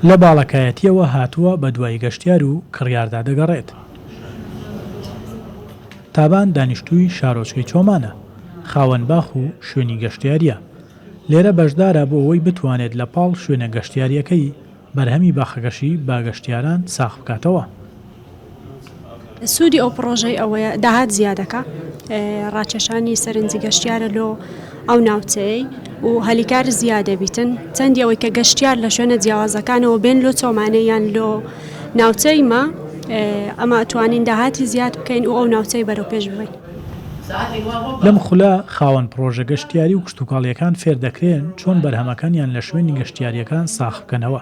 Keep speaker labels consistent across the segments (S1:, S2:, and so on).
S1: لە باڵەکایەتییەوە هاتووە بەدوای گەشتیار و کڕیاردا دەگەڕێت. تابان دانیشتووی شارۆچکەی چۆمانە، خاوەن باخ و شوێنی گەشتیارییە. لێرە بەشدارە بۆ ئەوەی بتوانێت لە پاڵ شوێنە گەشتیارییەکەی، بەرهەمی باخەکەشی بە گەشتیاران ساغ بکاتەوە.
S2: سوودی ئەو پڕۆژەی ئەوەیە داهات زیادەکا ڕاکێشانی سەرنجی گەشتیارە لۆ ئەو ناوچەیەی و هەلیکار زیادەبیتن چەندی ئەوەی کە گەشتیار لە شوێنە جیاوازەکانەوە بێن لۆ چۆمانەیان لۆ ناوچەی ما ئەمە توانین داهاتی زیاد بکەین و ئەو ناوچەی بەرەو پێش ببەین.
S1: لەم خولە خاوەن پڕۆژە گەشتیاری و کشتوکاڵییەکان فێردەکرێن چۆن بەرهەمەکانیان لە شوێنی گەشتیارییەکان ساخبکەنەوە.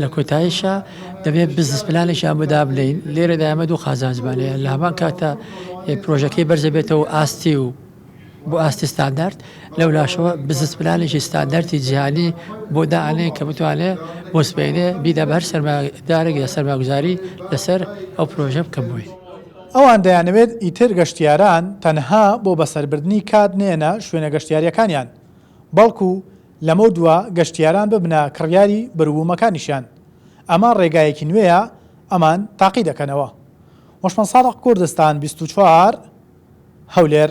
S3: لە کۆتاییشا دەبێت بزنس پلانێکیان بۆ دابنێین، لێرەدا ئێمە دوو قازانجمان هەیە، لە هەمان کاتدا پرۆژەکەی بەرز دەبێتەوە ئاستی و بۆ ئاستی ستاندارد، لەو لاشەوە بزنس پلانێکی ستاندارتی جیهانی بۆ دانێین کە بتوانێ بۆ سبەینێ بیدا بە هەر سەرمایەدارێک یا سەرمایەگوزاری لەسەر ئەو پرۆژە بکەن بۆی. ئەوان دەیانەوێت
S1: ئیتر گەشتیاران تەنها بۆ بەسەربردنی کات نەیەنە شوێنە گەشتیارییەکانیان، بەڵکو لەمەو دوا گەشتیاران ببنە کڕیاری بەروبوومەکانیشیان، ئەمە ڕێگایەکی نوێیە ئەمان تاقی دەکەنەوە. وەشمەنسادق کوردستان بیست و چوار هەولێر.